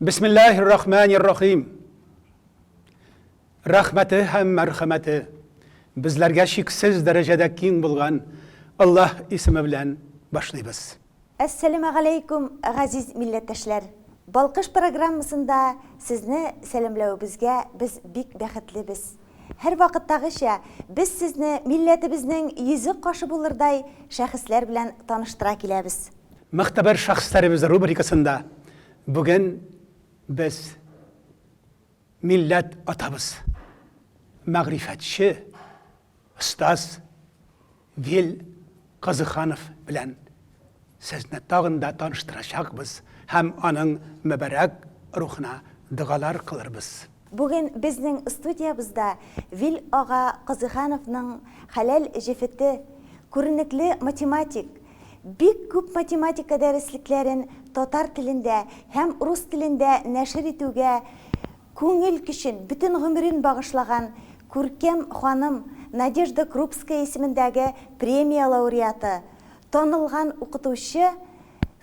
бисмиллахир рахманир рахим рәхмәте һәм мәрхәмәте безләргә чиксез дәрәҗәдә киң булган аллаһ исеме белән башлыйбыз Әссәләмәгаләйкүм, газиз милләттәшләр! Балкыш программасында сезне сәламләвебезгә без бик бәхетлебез. Һәрвакыттагыча, без сезне милләтебезнең йөзе кашы булырдай шәхесләр белән таныштыра киләбез. Могтәбәр шәхесләребез рубрикасында бүген без милләт атабыз, мәгърифәтче, остаз Вил Казыханов белән сезне тагын да таныштырачакбыз һәм аның мөбарәк рухына догалар кылырбыз. Бүген безнең студиябызда Вил ага Казыйхановның хәләл җефете, күренекле математик. Бик күп математика дәреслекләрен татар телендә һәм рус телендә нәшер итүгә күңел көчен, бөтен гомерен багышлаган күркәм ханым, Надежда Крупская исемендәге премия лауреаты, танылган укытучы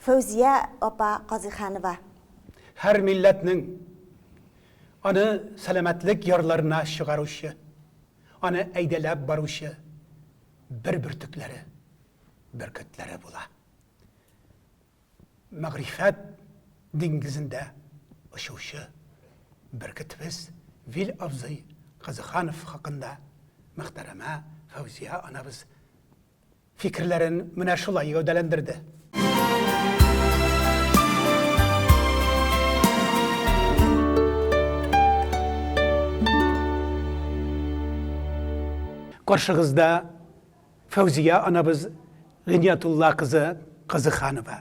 Фәүзия апа Казыйханова. Һәр милләтнең аны сәламәтлек ярларына чыгаручы, аны әйдәләп баручы бер бөртекләре, бөркетләре була. Мәгърифәт диңгезендә очучы бөркетебез Вил абзый Кызыханов хакында мөхтәрәмә Фәүзия анабыз фикерләрен менә шулай гәүдәләндерде. Каршыгызда Фәүзия анабыз Гыйниятулла кызы Кызыханова.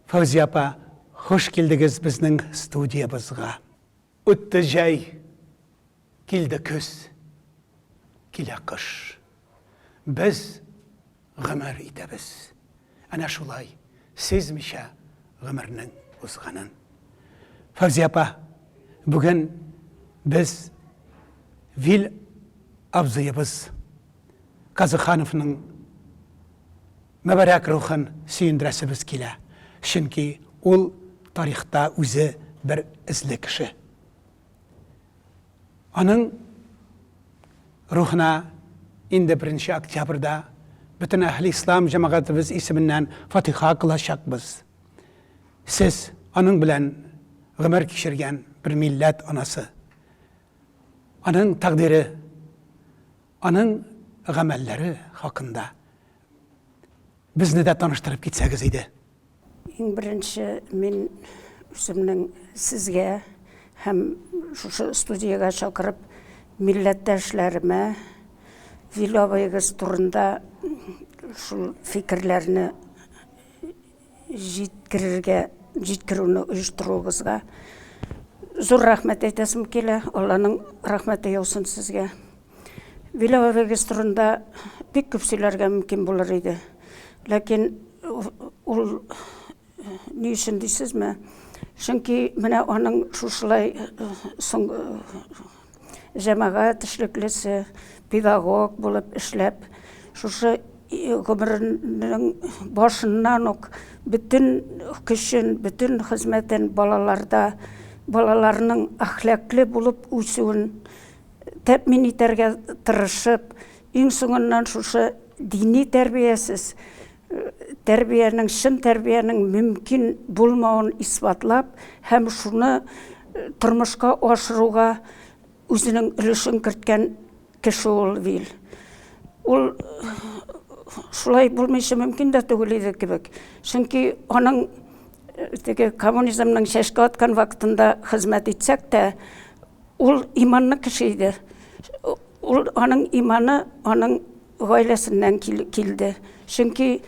Фәүзия апа, хуш килдегез безнең студиябызга. Үтте җәй, килде көз, килә кыш. Без гомер итәбез әнә шулай, сизмичә гомернең узганын. Фәүзия апа, бүген без Вил абзыебыз Казыхановның Мөбарәк рухын сөендерәсебез килә, чөнки ул тарихта үзе бер эзле кеше. Аның рухына инде беренче октябрьдә бөтен Әһле Ислам җәмәгатебез исеменнән фатиха кылачакбыз. Сез, аның белән гомер кичергән бер милләт анасы. Аның тәкъдире Аның гамәлләре хакында безне дә таныштырып китсәгез иде. Иң беренче мин үземнең сезгә һәм шушы студиягә чакырып милләттәшләремә Вилавыегыз турында шул фикерләрне җиткерергә, җиткерүне оештыруыбызга зур рәхмәт әйтәсем килә. Алланың рәхмәте яусын сезгә. Биләвегез турында бик күп сөйләргә мөмкин булыр иде. Ләкин ул ни өчен дисезме? Чөнки менә аның шушылай соң җәмәгать эшлеклесе, педагог булып эшләп, шушы гомеренең башыннан ук бөтен көчен, бөтен хезмәтен балаларда, балаларның әхлаклы булып үсүен тәэмин итәргә тырышып, Иң соңыннан шушы дини тәрбиясез тәрбиянең, чын тәрбиянең мөмкин булмавын исбатлап һәм шуны тормышка ашыруга үзенең өлешен керткән кеше ул Вил. Ул шулай булмыйча мөмкин дә түгел иде кебек. Чөнки аның теге коммунизмның чәшкә аткан вакытында хезмәт итсәк тә, Ул иманлы кеше иде. Ул аның иманы аның гаиләсеннән килде. Чөнки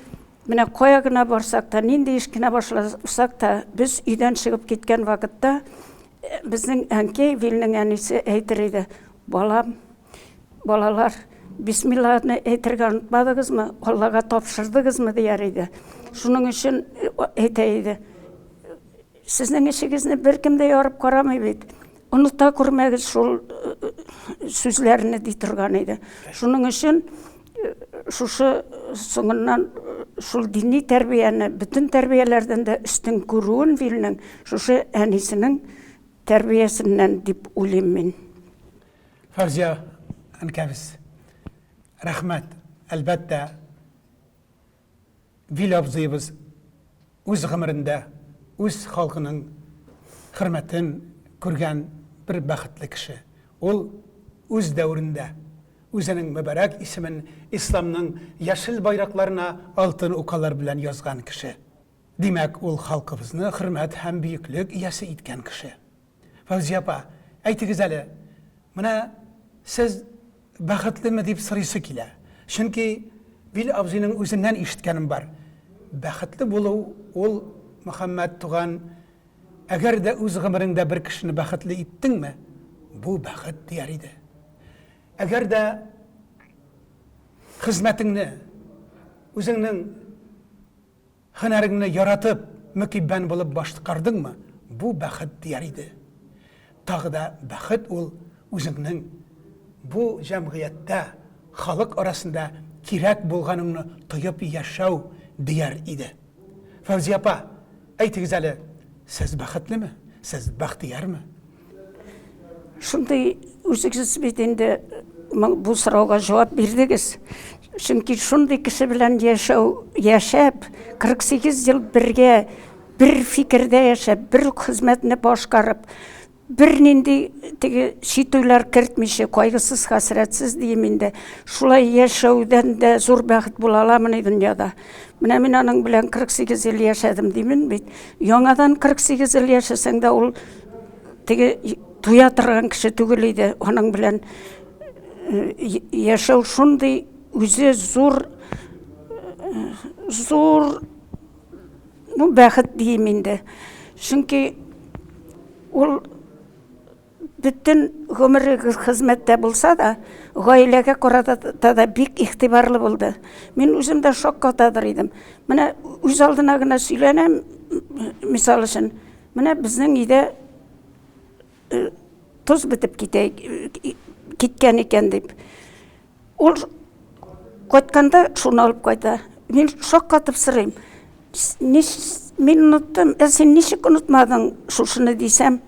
Менә кая гына барсак та, нинди эш кенә башласак та, без өйдән чыгып киткән вакытта э, безнең әнкәй Вилнең әнисе әйтер иде, балам, балалар, бисмилланы әйтергә онытмадыгызмы, Аллага тапшырдыгызмы дияр иде. Шуның өчен э, әйтә иде. Сезнең эшегезне беркем дә ярып карамый бит. Оныта күрмәгез шул сүзләрне ди торган иде. Шуның өчен шушы соңыннан шул дини тәрбияне бөтен тәрбияләрдән дә өстен күрүен Вильнең шушы әнисенең тәрбиясеннән дип уйлыйм мин. Фәрзия әнкәбез, рәхмәт, әлбәттә, Вил абзыебыз үз гомерендә үз халкының хөрмәтен күргән бер бәхетле кеше. Ул үз дәверендә үзенең мөбарәк исемен исламның яшел байракларына алтын укалар белән язган кеше. Димәк, ул халкыбызны хөрмәт һәм бөеклек иясе иткән кеше. Фәүзия апа, әйтегез әле, менә сез бәхетлеме дип сорыйсы килә. Чөнки Вил абзыйның үзеннән ишеткәнем бар. Бәхетле булу ул, Мөхәммәт туган, әгәр дә үз гомереңдә бер кешене бәхетле иттеңме, бу бәхет, дияр иде. Әгәр дә хезмәтеңне, үзеңнең. Һөнәреңне яратып, мөкиббән булып башкардыңмы, бу бәхет дияр иде. Тагы да бәхет ул үзеңнең бу җәмгыятьтә, халык арасында кирәк булганыңны тоеп яшәү дияр иде. Фәүзия апа, әйтегез әле, сез бәхетлеме? Сез бәхтиярме? Шундый үзегез бит инде бу сорауга җавап бирдегез. Чөнки шундый кеше белән яшәү, яшәп, 48 ел бергә бер фикердә яшәп, бер үк хезмәтне башкарып, бернинди теге читүләр кертмичә, кайгысыз, хәсрәтсез дим инде. Шулай яшәүдән дә зур бәхет була аламыни дөньяда? Менә мин аның белән 48 ел яшәдем димен бит. Яңадан 48 ел яшәсәң дә ул Теге туя торган кеше түгел иде. Аның белән яшәү шундый үзе зур зур ну бәхет дим инде. Чөнки ул бөтен гомере хезмәттә булса да, гаиләгә карата да бик игътибарлы булды. Мин үзем дә шаккатадыр идем. Менә үз алдына гына сөйләнәм, мисал өчен, Менә безнең өйдә тоз бетеп китә, киткән икән дип. Ул кайтканда шуны алып кайта. Мин шаккатып сорыйм. Мин оныттым, ә син ничек онытмадың шушыны дисәм,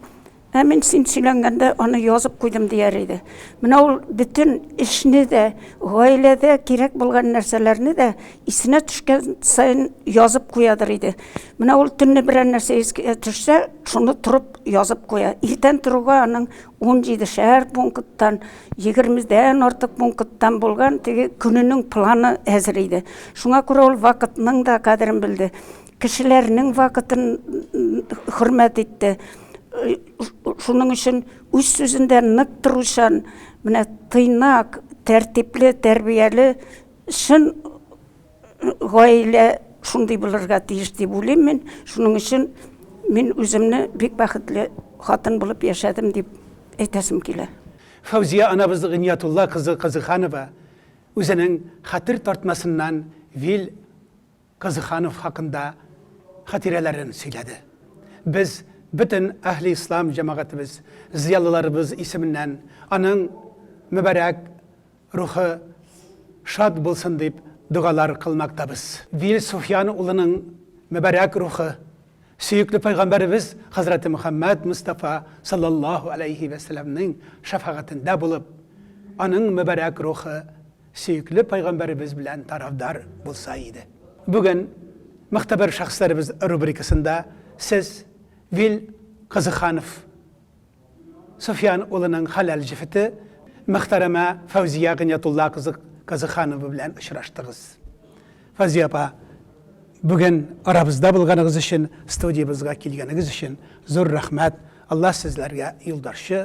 ә мин син сөйләнгәндә аны язып куйдым дияр иде. Менә ул бөтен эшне дә, гаиләдә кирәк булган нәрсәләрне дә Исенә төшкән саен язып куядыр иде. Менә ул төнне берәр нәрсә искә төшсә, шуны торып язып куя. Иртән торуга аның 17 шәһәр пункттан, 20-дән артык пункттан булган теге көненең планы әзер иде. Шуңа күрә ул вакытның да кадерен белде. Кешеләрнең вакытын хөрмәт итте. Шуның өчен үз сүзендә нык торучан, менә тыйнак, тәртипле, тәрбияле Чын гаилә шундый булырга тиеш дип уйлыйм мин. Шуның өчен мин үземне бик бәхетле хатын булып яшәдем дип әйтәсем килә. Фәүзия анабыз Гыйниятулла кызы Казыханова үзенең хәтер тартмасыннан Вил. Кызыханов хакында хатирәләрен сөйләде. Без бөтен Әһле Ислам җәмәгатебез, зыялыларыбыз исеменнән аның мөбарәк рухы шат булсын дип догалар кылмактабыз. Вил Суфьян улының мөбарәк рухы сөекле пәйгамбәребез хәзрәте Мөхәммәд Мостафа салләллаһу аләйһи вә сәләмнең шәфәгатендә булып, аның мөбарәк рухы сөекле пәйгамбәребез белән тарафдар булса иде. Бүген Мөхтәбәр шәхесләребез рубрикасында сез Вил Кызыханов Суфиян улының хәләл җефете мөхтәрәмә Фәүзия Гыйниятулла кызы Кызыханова белән очраштыгыз. Фәүзия апа, бүген арабызда булганыгыз өчен, студиябезгә килгәнегез өчен зур рәхмәт. Алла сезләргә юлбарчы,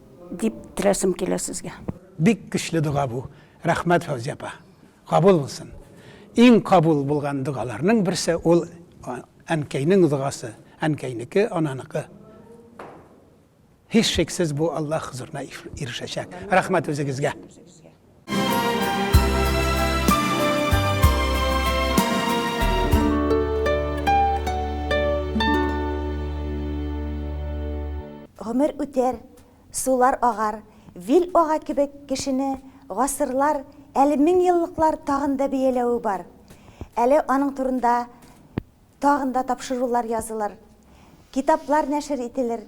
Дип теләсем килә сезгә. Бик көчле дога бу, рәхмәт Фәүзия апа! Кабул булсын! Иң кабул булган догаларның берсе ул әнкәйнең догасы, әнкәйнеке, ананыкы. Һичшиксез бу Аллаһ хозурына ирешәчәк. Рәхмәт үзегезгә! Гомер үтәр, сулар агар, вил ага кебек кешене гасырлар, әле меңьеллыклар тагын да бияләве бар. Әле аның турында тагын да тапшырулар язылыр, китаплар нәшер ителер,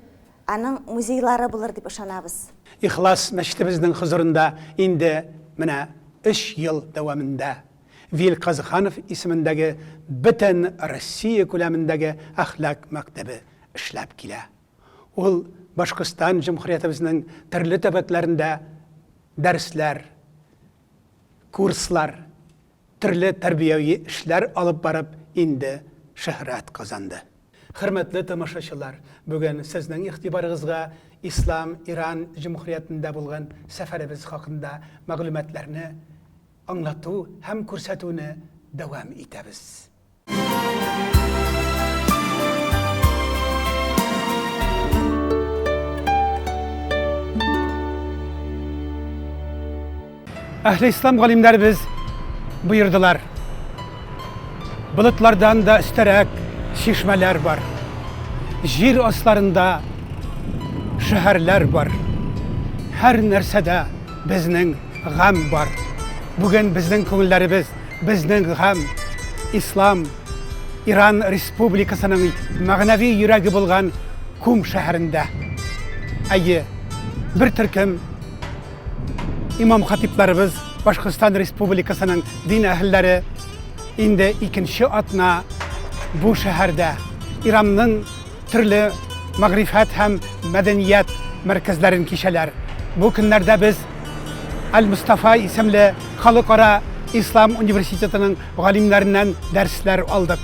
Аның музейлары булыр дип ышанабыз. Ихлас мәчетебезнең хозурында инде менә өч ел дәвамында Вил Казыханов исемендәге бөтен Россия күләмендәге әхлак мәктәбе эшләп килә. Ул Башкортстан Җөмһүриятебезнең төрле төбәкләрендә дәресләр, курслар Төрле тәрбияви эшләр алып барып инде шөһрәт казанды. Хөрмәтле тамашачылар, бүген сезнең игътибарыгызга Ислам Иран җөмһүриятендә булган сәфәребез хакында мәгълүматларны аңлату һәм күрсәтүне дәвам итәбез. Әхле ислам галимнәр без боердылар. Булытлардан да өстәрәк чишмәләр бар. Җир асларында шәһәрләр бар. Һәр нәрсәдә безнең гамь бар. Бүген безнең күңелләребез, безнең гамь, ислам, Иран республикасының мәгънәви йөрәге булган Кум шәһәрендә. Әйе, бер төркем имам хатипларыбыз Башкортстан республикасының дин әһелләре инде икенче атна бу шәһәрдә Иранның төрле мәгърифәт һәм мәдәният мәркәзләрен кичәләр. Бу көннәрдә без Аль-Мустафа исемле халыкара ислам университетының галимнәреннән дәресләр алдык.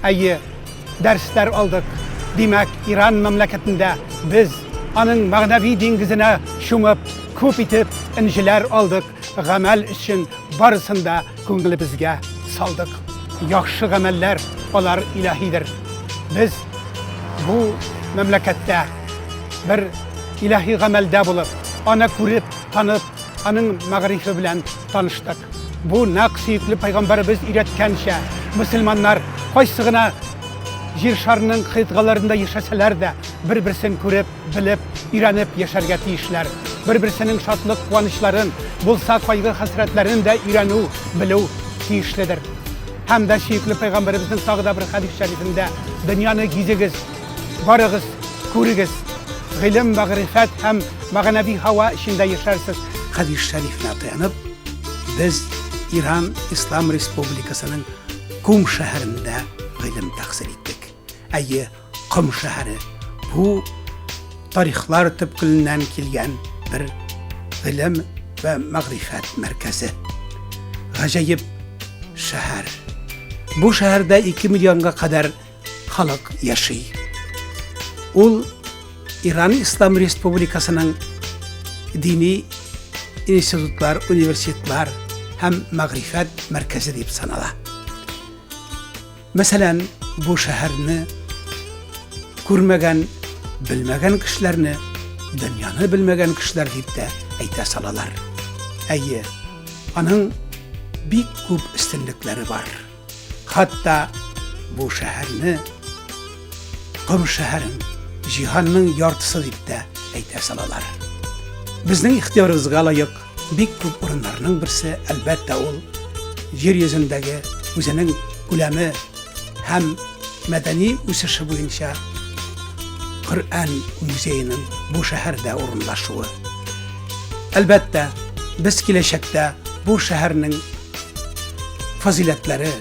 Әйе, дәресләр алдык. Димәк, Иран мәмләкәтендә без аның мәгънәви диңгезенә чумып, күп итеп энҗеләр алдык. гамәл өчен барысын да күңелебезгә салдык. Яхшы гамәлләр алар илаһидер. Без бу мәмләкәттә бер илаһи гамәлдә булып, аны күреп, танып, аның мәгърифе белән таныштык. Бу нәкъ сөекле пайгамбарыбыз өйрәткәнчә, мөселманнар кайсы гына җир шарының кыйтгаларында яшәсәләр дә, бер-берсен күреп, Белеп, өйрәнеп яшәргә тиешләр. Бер-берсенең шатлык-куанычларын, булса кайгы-хәсрәтләрен дә өйрәнү, белү тиешледер. Һәм дә сөекле пәйгамбәребезнең тагы да бер хәдис шәрифендә, Дөньяны гизегез, барыгыз, күрегез, гыйлем, мәгърифәт һәм мәгънәви һава эчендә яшәрсез. Хәдис шәрифенә таянып, без Иран Ислам Республикасының Кум шәһәрендә гыйлем тәхсил иттек. Әйе, Ком шәһәре. Бу тарихлар төпкеленнән килгән бер гыйлем вә мәгърифәт мәркәзе. Гаҗәеп шәһәр. Бу шәһәрдә 2 миллионга кадәр халык яши. Ул Иран Ислам Республикасының дини институтлар, университетлар һәм мәгърифәт мәркәзе дип санала. Мәсәлән, бу шәһәрне күрмәгән, белмәгән кешеләрне дөньяны белмәгән кешеләр дип тә әйтә салалар. Әйе, аның бик күп өстенлекләре бар. Хатта бу шәһәрне Ком шәһәрен җиһанның яртысы дип тә әйтә салалар. Безнең ихтиярыбызга лаек Бик күп урыннарның берсе, әлбәттә, ул җир йөзендәге үзенең күләме һәм мәдәни үсеше буенча Коръән музееның бу шәһәрдә урынлашуы. Әлбәттә, без киләчәктә бу шәһәрнең фазиләтләре,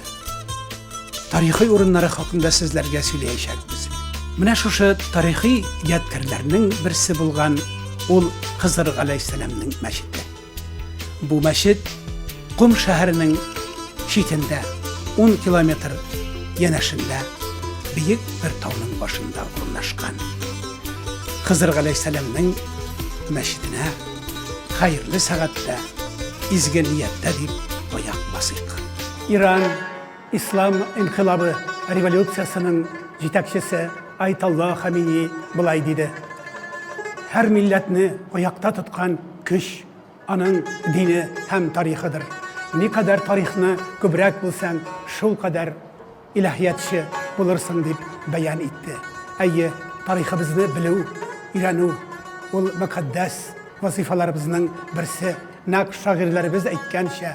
тарихи урыннары хакында сезләргә сөйләячәкбез. Менә шушы тарихи ядкәрләрнең берсе булган ул Хызыр галәйһиссәламның мәчете. Бу мәчет Кум шәһәренең читендә 10 километр янәшендә биек бер тауның башында урнашкан. Хызыр галәйһиссәламның мәчетенә хәерле сәгатьтә изге нияттә дип аяк басыйк. Иран ислам инкыйлабы революциясенең җитәкчесе Айталла Хамини былай диде. Һәр милләтне аякта тоткан көч аның дине һәм тарихыдыр. Никадәр тарихны күбрәк белсәң, шул кадәр илаһиятче булырсың дип бәян итте. Әйе, тарихыбызны белү, өйрәнү ул мөкатдәс вазифаларыбызның берсе. Нәкъ шагыйрьләребез әйткәнчә,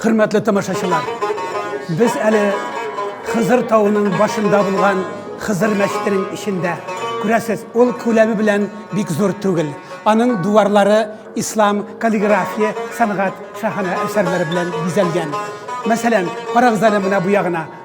Хөрмәтле тамашачылар, без әле Хызыр тауының башында булган Хызыр мәчетенең эчендә. Күрәсез, ул күләме белән бик зур түгел. Аның дуварлары ислам каллиграфия сәнгать шәһәне әсәрләре белән бизәлгән. Мәсәлән, карагыз әле менә бу ягына.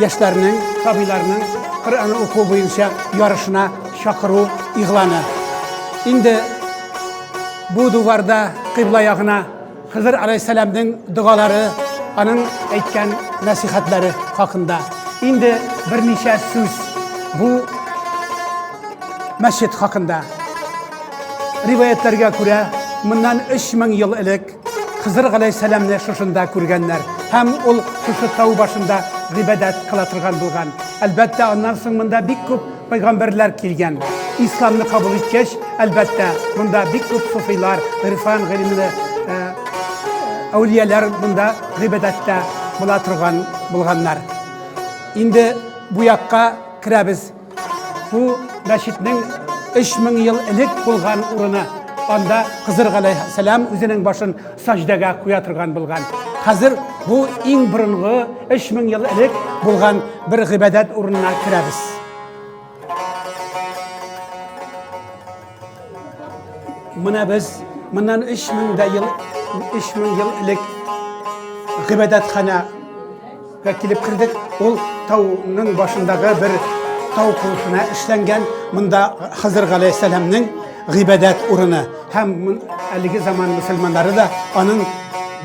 Яшьләрнең, сабыйларның Коръәнне уку буенча ярышына чакыру игъланы. Инде бу дуварда кыйбла ягына Хызыр алейхиссәламның догалары, аның әйткән нәсихәтләре хакында. Инде берничә сүз бу мәчет хакында. Риваятләргә күрә, моннан 3000 ел элек Хызыр галәйһиссәламне шушында күргәннәр һәм ул шушы тау башында гыйбадәт кыла торган булган. Әлбәттә, аннан соң монда бик күп пайгамбәрләр килгән. Исламны кабул иткәч, әлбәттә, монда бик күп суфилар, гырфан гыйлемле э, әүлияләр монда гыйбадәттә була торган булганнар. Инде бу якка керәбез. Бу мәчетнең 3000 ел элек булган урыны. Анда Хызыр галәйһиссәлам үзенең башын саҗдәгә куя торган булган. Хәзер бу иң борынгы 3000 ел элек булган бер гыйбадәт урынына керәбез. Менә без моннан 3000 дә ел 3000 ел элек гыйбадәтханә га килеп кердек. Ул тауның башындагы бер тау курсына эшләнгән. Монда Хызыр галәйһиссәламның гыйбадәт урыны һәм әлеге заман мусульманнары да аның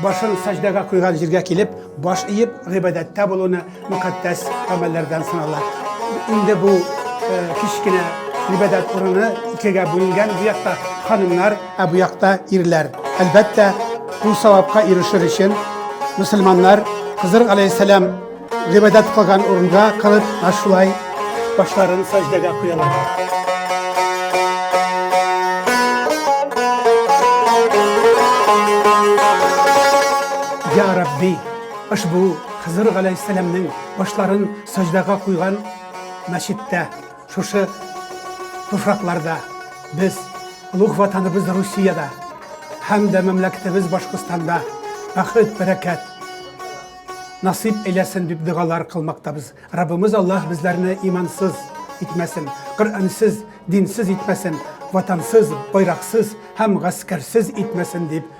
башын сәҗдәгә куйган җиргә килеп, баш иеп гыйбадәттә булуны Мөкатдәс гамәлләрдән санала. Инде бу кечкенә гыйбадәт урыны икегә бүленгән. Бу якта ханымнар, ә бу якта ирләр. Әлбәттә, бу савапка ирешер өчен мөселманнар Хызыр алейхиссәлам гыйбадәт кылган урынга кылып, шулай башларын сәҗдәгә куялар. Rabbi, është bu Хызыр галәйһиссәламнең башларын саҗдага куйган мәчеттә, шушы туфракларда без, олуг Ватаныбыз Русиядә һәм дә мәмләкәтебез Башкортстанда бәхет-бәрәкәт насыйп әйләсен дип догалар кылмактабыз. Раббымыз Аллаһ безләрне имансыз итмәсен, Коръәнсез, динсез итмәсен, ватансыз, байраксыз һәм гаскәрсез итмәсен дип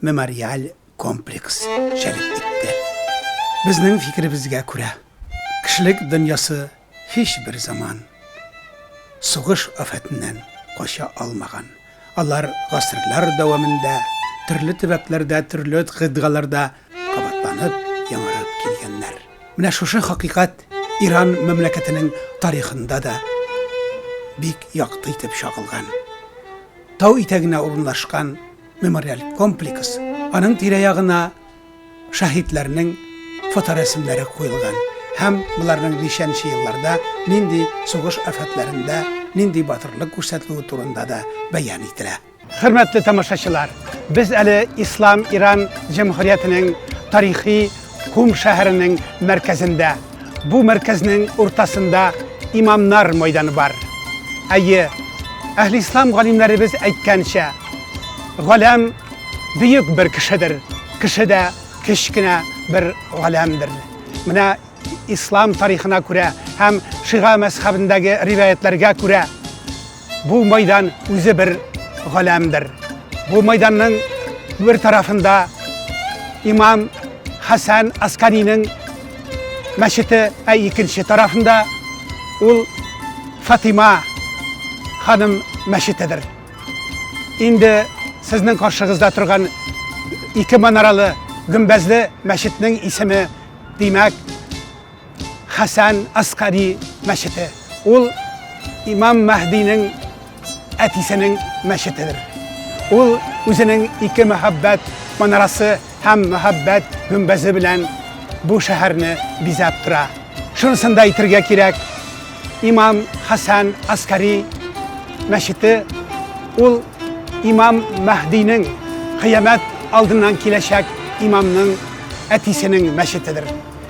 мемориаль комплекс җәлеп итте. Безнең фикеребезгә күрә, кешелек дөньясы һичбер заман сугыш афәтеннән кача алмаган. Алар гасырлар дәвамында төрле төбәкләрдә, төрле гыдгаларда кабатланып, яңарып килгәннәр. Менә шушы хакыйкать Иран мәмләкәтенең тарихында да бик якты итеп чагылган. Тау итәгенә урынлашкан мемориаль комплекс. Аның тирә-ягына шаһитләрнең фоторәсемнәре куелган һәм боларның ничәнче елларда нинди сугыш афәтләрендә нинди батырлык күрсәтүе турында да бәян ителә. Хөрмәтле тамашачылар, без әле Ислам Иран җәмһүриятенең тарихи Кум шәһәренең мәркәзендә, бу мәркәзнең уртасында имамнар мәйданы бар. Әйе, әһли ислам галимнәребез әйткәнчә, галәм бөек бер кешедер, кеше дә кечкенә бер галәмдер. Менә ислам тарихына күрә һәм шига мәзхәбендәге риваятләргә күрә, Бу майдан үзе бер галәмдер. Бу майданның бер тарафында имам Хәсән Асканинең мәчете, ә икенче тарафында ул Фатима ханым мәчетедер. Инде сезнең каршыгызда торган ике манаралы гөмбәзле мәчетнең исеме, димәк, Хәсән Аскари мәчете. Ул имам Мәһдинең әтисенең мәчетедер. Ул үзенең ике мәхәббәт манарасы һәм мәхәббәт гөмбәзе белән бу шәһәрне бизәп тора. Шунысын да әйтергә кирәк, имам Хәсән Аскари мәчете ул имам Мәһдинең кыямәт алдыннан киләчәк имамның әтисенең мәчетедер.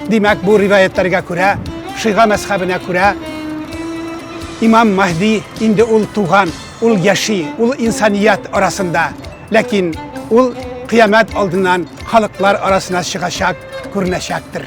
Димәк, бу риваятларга күрә, шыйга мәзхәбенә күрә, имам Мәһди инде ул туган, ул яши, ул инсаният арасында. Ләкин ул кыямәт алдыннан халыклар арасына чыгачак, күренәчәктер.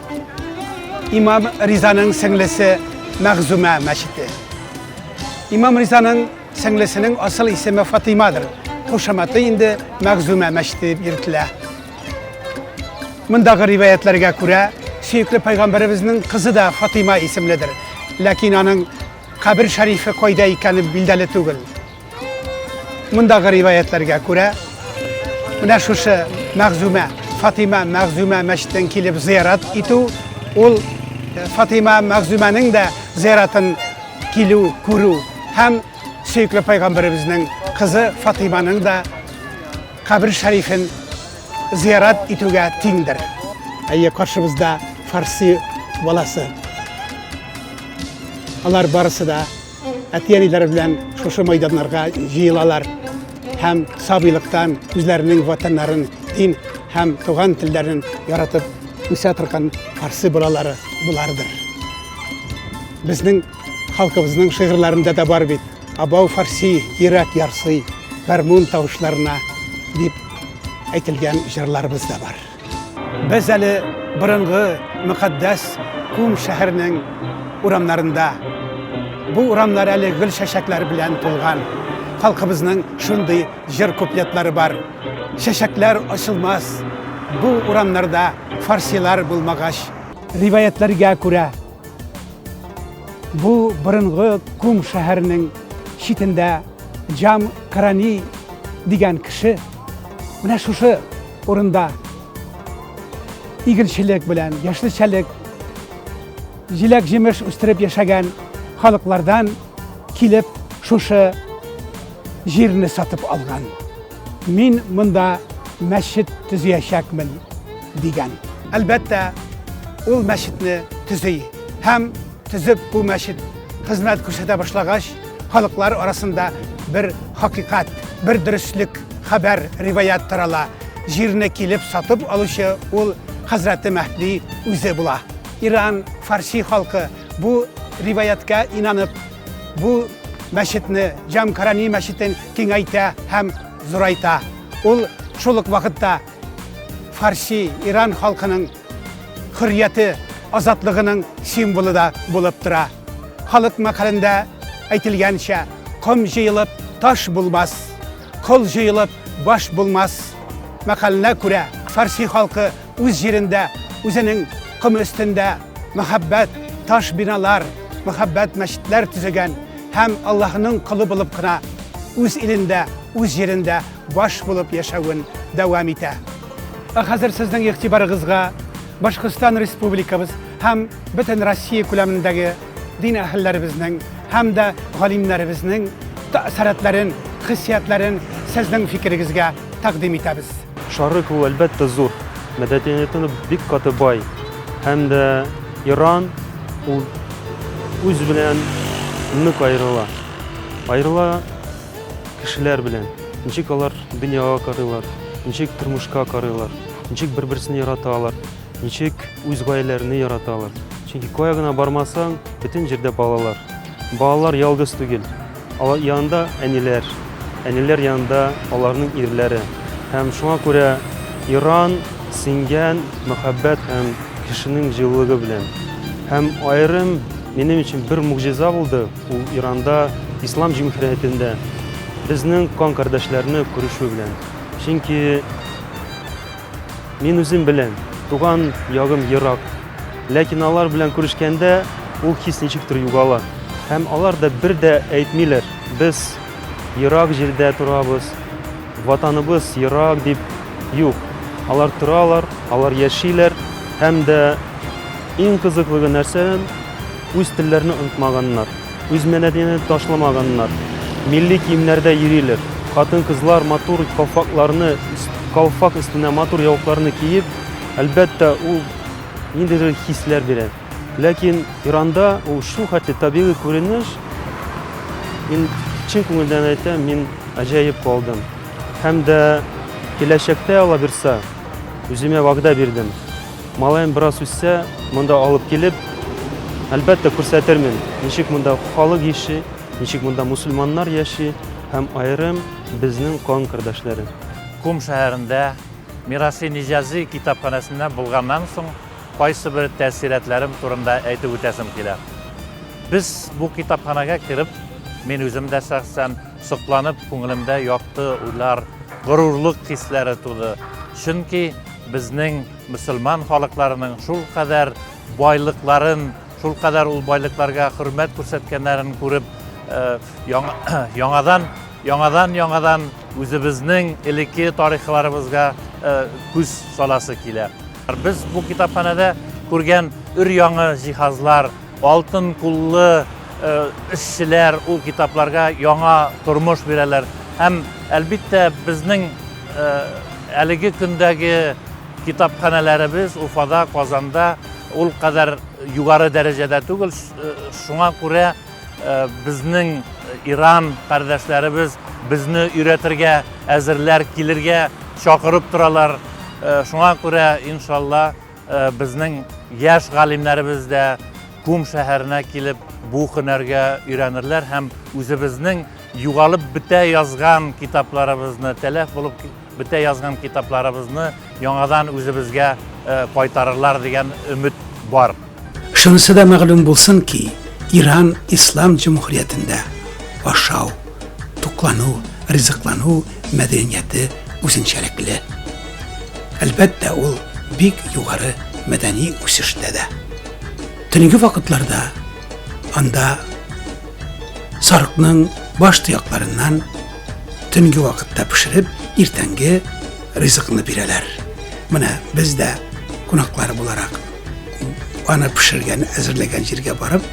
Имам Ризаның сеңлесе Мәгъзүмә мәчете. Имам Ризаның сеңлесенең асыл исеме Фатимадыр. Кушаматы инде Мәгъзүмә мәчете дип йөртелә. Мондагы риваятларга күрә, сөекле пайгамбарыбызның кызы да Фатима исемледер. Ләкин аның кабер шәрифе кайда икәне билдәле түгел. Мондагы риваятларга күрә, менә шушы Мәгъзүмә, Фатима Мәгъзүмә мәчетен килеп зиярат итү, ул Фатима Мәгъзүмәнең дә зияратын килү, күрү һәм сөекле пайгамбарыбызның кызы Фатиманың да кабер шәрифен зиярат итүгә тиңдер. Әйе, каршыбызда фарси баласы. Алар барысы да әти-әниләре белән шушы мәйданнарга җыелалар һәм сабыйлыктан үзләренең ватаннарын, дин һәм туган телләрен яратып үсә торган фарсы балалары булардыр. Безнең халкыбызның шигырьләрендә дә бар бит. Абау фарси, йөрәк ярсый, гармун тавышларына дип әйтелгән җырларыбыз да бар. Без әле борынгы мөкатдәс күм шәһәрнең урамнарында. Бу урамнар әле гөл чәчәкләр белән тулган. Халкыбызның шундый җыр куплетлары бар. Чәчәкләр ачылмас бу урамнарда фарсилар булмагач. Риваятьләргә күрә, бу борынгы күм шәһәрнең читендә Җам Карани дигән кеше Менә шушы урында игенчелек белән, яшелчәлек, җиләк-җимеш үстереп яшәгән халыклардан килеп шушы җирне сатып алган. Мин монда мәчет төзиячәкмен дигән. Әлбәттә, ул мәчетне төзи һәм төзеп бу мәчет хезмәт күрсәтә башлагач, Халыклар арасында бер хакыйкат, бер дөреслек, хәбәр, риваят тарала. Җирне килеп сатып алучы ул хәзрәте Мәһди үзе була. Иран, фарси халкы бу риваятка инанып, бу мәчетне, Җамкарани мәчетен киңәйтә һәм зурайта. Ул шул ук вакытта фарси, иран халкының хөррияте, азатлыгының символы да булып тора. Халык мәкалендә әйтелгәнчә, ком җыелып, таш булмас, кол җыелып, баш булмас. Мәкаленә күрә, фарси халкы үз җирендә, үзенең ком өстендә мәхәббәт таш биналар, мәхәббәт мәчетләр төзегән һәм Аллаһының колы булып кына үз илендә, үз җирендә баш булып яшәвен дәвам итә. Ә хәзер сезнең игътибарыгызга Башкортстан Республикабыз һәм бөтен Россия күләмендәге дин әһелләребезнең һәм дә галимнәребезнең тәэсиратларын, хиссиятларын сезнең фикерегезгә тәкъдим итәбез. Шарык ул әлбәттә зур, мәдәнияте бик каты бай һәм дә Иран ул үз белән нык аерыла. Аерыла кешеләр белән, ничек алар дөньяга карыйлар, ничек тормышка карыйлар, ничек бер-берсен яраталар, ничек үз гаиләләрен яраталар. Чөнки кая гына бармасаң, бөтен җирдә балалар. Балалар ялгыз түгел. Алар янында әниләр, әниләр янында аларның ирләре. Һәм шуңа күрә Иран сингән мәхәббәт һәм кешенең җылылыгы белән. Һәм аерым минем өчен бер могҗиза булды. Ул Иранда, ислам җимхиятендә безнең кан кардәшләрне күрешү белән. Чөнки мин үзем белән туган ягым ерак. Ләкин алар белән күрешкәндә ул хис ничектер югала. Һәм алар да бер дә әйтмиләр, без ерак җирдә торабыз, ватаныбыз ерак дип. Юк, алар торалар, алар яшиләр һәм дә иң кызыклыгы нәрсә? Үз телләрне онытмаганнар, үз мәдәниятен ташламаганнар, милли киемнәрдә йөриләр. Хатын-кызлар матур калфакларны, калфак өстенә матур яулыкларны киеп, әлбәттә, ул ниндидер хисләр бирә. Ләкин Иранда ул шул хәтле табигый күренеш, мин чын күңелдән әйтәм, мин гаҗәеп калдым. Һәм дә киләчәктә, Аллабирса, үземә вәгъдә бирдем. Малаем бераз үссә, монда алып килеп, әлбәттә күрсәтермен, ничек монда халык яши, ничек монда мусульманнар яши һәм аерым безнең кан кардәшләре. Кум шәһәрендә Мираси Ниҗази китапханәсендә булганнан соң, кайсы бер тәэссирәтләрем турында әйтеп үтәсем килә. Без бу китапханәгә кереп, мин үзем дә шәхсән сокланып, күңелемдә якты уйлар, горурлык хисләре туды. Чөнки. Безнең мөселман халыкларының шул кадәр байлыкларын, шул кадәр ул байлыкларга хөрмәт күрсәткәннәрен күреп, яңадан яңадан яңадан үзебезнең элекке тарихларыбызга күз саласы килә. Без бу китапханәдә күргән өр-яңы җиһазлар, алтын куллы эшчеләр ул китапларга яңа тормыш бирәләр. Һәм, әлбиттә, безнең Әлеге көндәге китапханәләребез Уфада, Казанда ул кадәр югары дәрәҗәдә түгел. Шуңа күрә безнең Иран кардәшләребез безне өйрәтергә әзерләр, килергә чакырып торалар. Шуңа күрә, иншалла, Безнең яшь галимнәребез дә Кум шәһәренә килеп бу һөнәргә өйрәнерләр һәм үзебезнең югалып бетә язган китапларыбызны, тәләф булып бетә язган китапларыбызны яңадан үзебезгә кайтарырлар дигән өмет бар. Шунысы да мәгълүм булсын ки, Иран Ислам Җөмһүриятендә ашау, туклану, ризыклану мәдәнияте үзенчәлекле. Әлбәттә, ул бик югары мәдәни үсештә дә. Төнге вакытларда анда сарыкның баш тоякларыннан төнге вакытта пешереп, иртәнге ризыкны бирәләр. Менә без дә кунаклар буларак аны пешергән, әзерләгән җиргә барып,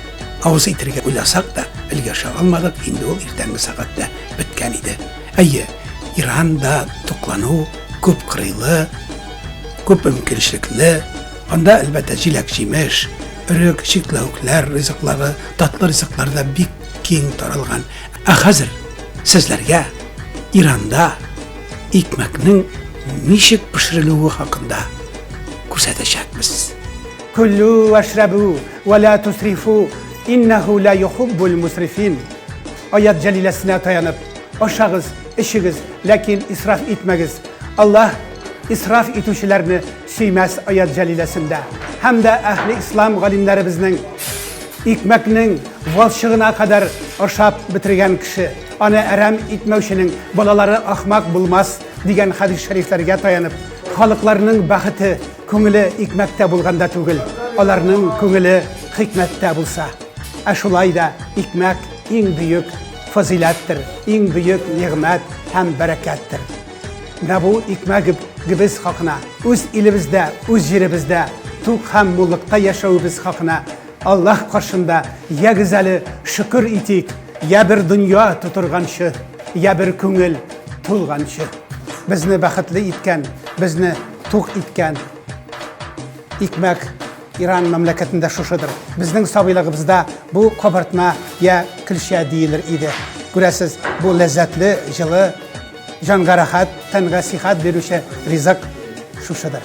Авыз итергә уйласак та, өлгәшә алмадык, инде ул иртәнге сәгатьтә беткән иде. Әйе, Иранда туклану күп кырыйлы, күп мөмкинчелекле. Анда, әлбәттә, җиләк-җимеш, өрек, чикләвекләр ризыклары, татлы ризыклар да бик киң таралган. Ә хәзер сезләргә Иранда икмәкнең ничек пешерелүе хакында күрсәтәчәкбез. Көлү, вәшрәбү. Вә лә тусрифу, иннәһу лә йохуббул мусрифин. Аят җәлиләсенә таянып, ашагыз, эчегез, ләкин исраф итмәгез. Аллаһ исраф итүчеләрне сөймәс аят җәлиләсендә. Һәм дә әһле ислам галимнәребезнең икмәкнең валчыгына кадәр ашап бетергән кеше, аны әрәм итмәүченең балалары ахмак булмас дигән хәдис шәрифләргә таянып, халыкларның бәхете Күңеле икмәктә булганда түгел, аларның күңеле хикмәттә булса. Ә шулай да икмәк иң бөек фазиләттер, иң бөек нигъмәт һәм бәрәкәттер. Менә бу икмәк гибез хакына, үз илебездә, үз җиребездә тук һәм муллыкта яшәвебез хакына Аллаһ каршында я гүзәле шөкер итик, я бер дөнья тутырганчы, я бер күңел тулганчы. Безне бәхетле иткән, безне Тук иткән икмәк Иран мәмләкәтендә шушыдыр. Безнең сабыйлыгыбызда бу кабартма я көлчә диелер иде. Күрәсез, бу ләззәтле, җылы, җанга рәхәт, тәнгә сихәт бирүче ризык шушыдыр.